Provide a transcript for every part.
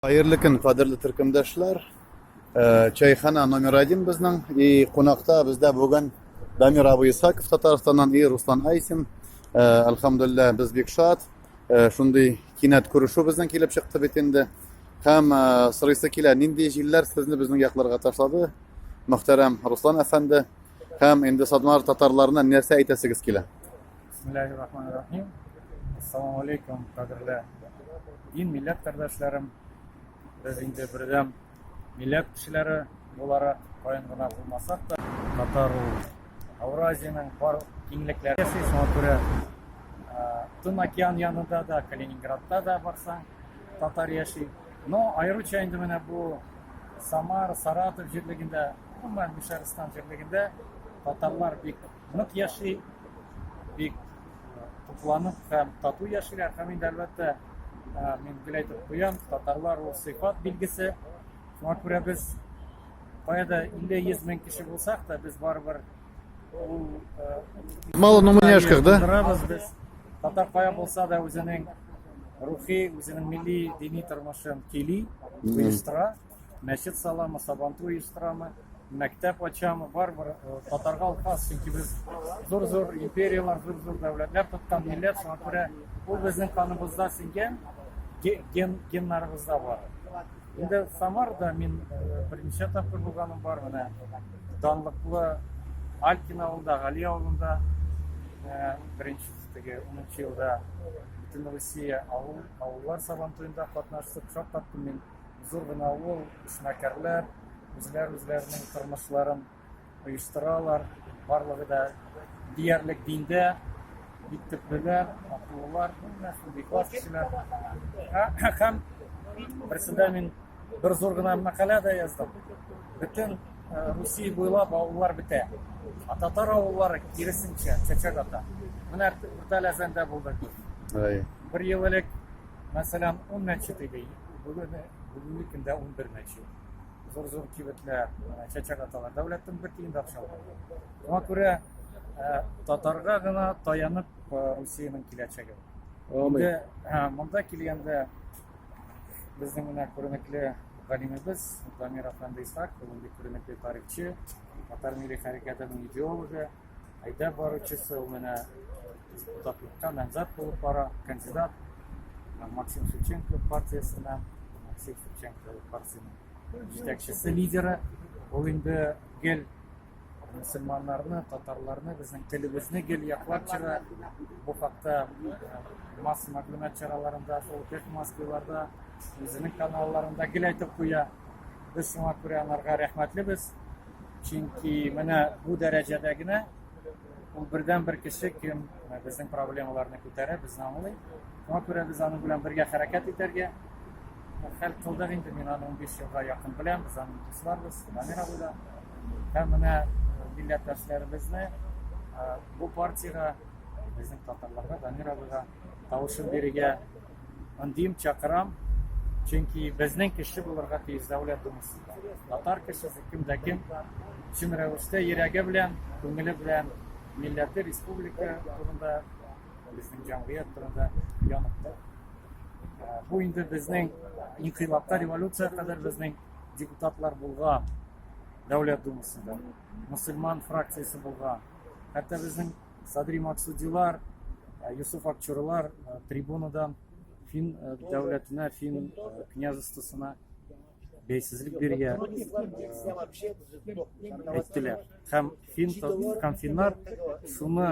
Хәерле көн, кадерле төркемдәшләр. Э, чайхана номер один безнең. И кунакта бездә бүген Дамир абый Исаков Татарстаннан и Руслан Айсин. Э, Әлхәмдулилла, без бик шат. Э, шундый кинәт күрешү безнең килеп чыкты бит инде. Һәм сорыйсы килә, нинди җилләр сезне безнең якларга ташлады? Мөхтәрәм Руслан әфәнде һәм инде Садмар татарларына нәрсә әйтәсегез килә? Бисмиллахи рахмани рахим. Ассаламу алейкум, кадерле дин милләт кардәшләрем. Без инде бердәм милләт кешеләре буларак, кайын гына булмасак та, татар ул Ауразиянең бар киңлекләре яши, шуңа күрә Тын океан янында да, Калининградта да барсаң, татар яши. Но аеруча инде менә бу Самар, Саратов җирлегендә, гомумән Мишәрстан җирлегендә татарлар бик нык яши, бик э, тукланып һәм тату яшиләр. Һәм инде әлбәттә, э, мин гел әйтеп куям, татарлар ул сыйфат билгесе. Шуңа күрә без кая да 50-100 мең кеше булсак та, без барыбер ул э, Мало, но мы не ашках, да? Булдырабыз без. Татар кая булса да үзенең рухи, үзенең милли дини тормышын кили, оештыра. Мәчет саламы, сабантуй оештырамы, мәктәп ачамы, барыбер э, татарга ул хас, чөнки без зур-зур империялар, зур-зур дәүләтләр тоткан милләт, шуңа күрә ул безнең каныбызда сеңгән, ген, геннарыбызда бар. Инде Самарда мин э, беренче тапкыр булганым бар, менә данлыклы Алькин авылында, Гали авылында э, беренче теге 10 елда Бөтенроссия авыл, авыллар сабантуенда катнаштык, шаккаттым мин. Зур гына авыл, эшмәкәрләр, үзләр-үзләренең тормышларын оештыралар, барлыгы да диярлек диндә, бик төплеләр, акыллылар, бик аз кешеләр. Һәм берсендә мин бер зур гына мәкалә дә яздым. Бөтен э, Русия буйлап авыллар бетә. А татар авыллары киресенчә чәчәк ата. Менә Үртәләзәндә булдык. Бер ел элек Мәсәлән, ун мәче тегей, бүген, бүгенге көндә унбер мәче. Зур-зур кибетләр, менә чәчәк аталар, дәүләттен бер тиен дә акча алган. Шуңа күрә ә, татарга гына таянып ә, Русиянең киләчәге. Амин. Инде ә, монда килгәндә безнең менә күренекле галимебез Дамир Афанды Исхак, ул бик күренекле тарихчы, татар милли хәрәкәтенең идеологы, Әйдәп баручысы ул менә депутатлыкка намзәт булып бара, кандидат Максим Шевченко партиясеннән, Максим Шевченко партиясенең җитәкчесе, лидеры. Ул инде гел мөселманнарны, татарларны, безнең телебезне гел яклап чыга. Бу хакта масса мәгълүмат чараларында, фолкет массаларда, үзенең каналларында гел әйтеп куя. Без шуңа күрә анарга рәхмәтлебез. Чөнки менә бу дәрәҗәдә генә ул бердәнбер кеше, кем безнең проблемаларны күтәрә, безне аңлый. Шуңа күрә без аның белән бергә хәрәкәт итәргә хәл кылдык инде. Мин аны 15 елга якын беләм, без аның дусларбыз, Дамир абый да. Һәм менә милләттәшләребезне бу партиягә, безнең татарларга, Дамир абыйга тавышын бирергә Андим, чакырам, чөнки безнең кеше булырга тиеш дәүләт думасында. Татар кешесе кем дә кем, чын рәвештә йөрәге белән, күңеле белән милләте, республика турында, безнең җәмгыять турында янып тора. Ә, Бу инде безнең инкыйлабка, революция кадәр безнең депутатлар булган дәүләт думасында, мусульман фракциясе булган. Хәтта безнең Садри Максудилар, э, Юсуф Акчурлар э, трибунадан фин э, дәүләтенә, фин княжествосына бәйсезлек биргә әйттеләр. Һәм фин һәм финнар шуны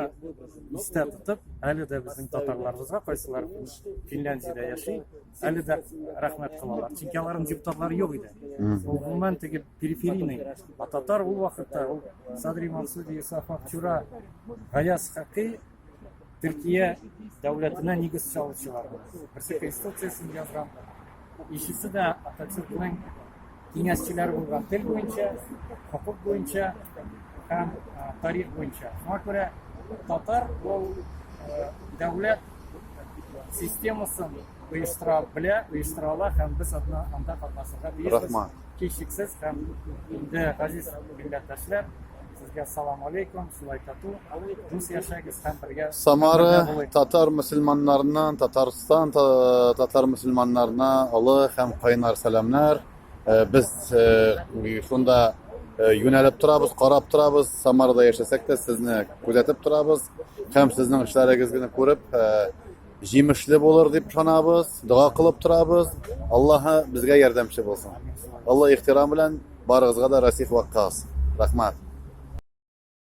истә тотып, әле дә безнең татарларыбызга кайсылар Финляндиядә яши, әле дә рәхмәт кылалар. Чөнки аларның депутатлары юк иде. Гомумән теге периферийный а татар ул вакытта ул Садри Мансуди, Исаф Акчура, Гаяз Хакый Төркия дәүләтенә нигез салучылар. Берсе конституциясен язган. Ишесе дә Ататюркның киңәшчеләре булган тел буенча, хокук буенча һәм тарих буенча. Шуңа күрә татар ул дәүләт системасын оештыра белә, оештыра ала һәм без анда анда катнашырга тиешбез. Рәхмәт. Һичшиксез һәм инде газиз милләттәшләр, Сезгә салам алейкум, шулай тату, дус яшәгез һәм бергә Самара бергә булыйк. татар мөселманнарына, Татарстан та- татар мөселманнарына олы һәм кайнар сәламнәр. Э, Без э, шунда э, юнәлеп торабыз, карап торабыз. Самарада яшәсәк тә сезне күзәтеп торабыз һәм сезнең эшләрегезне күреп э, Җимешле булыр дип ышанабыз, дога кылып торабыз. Аллаһы безгә ярдәмче булсын. Олы ихтирам белән барыгызга да Расих Ваккас. Рәхмәт.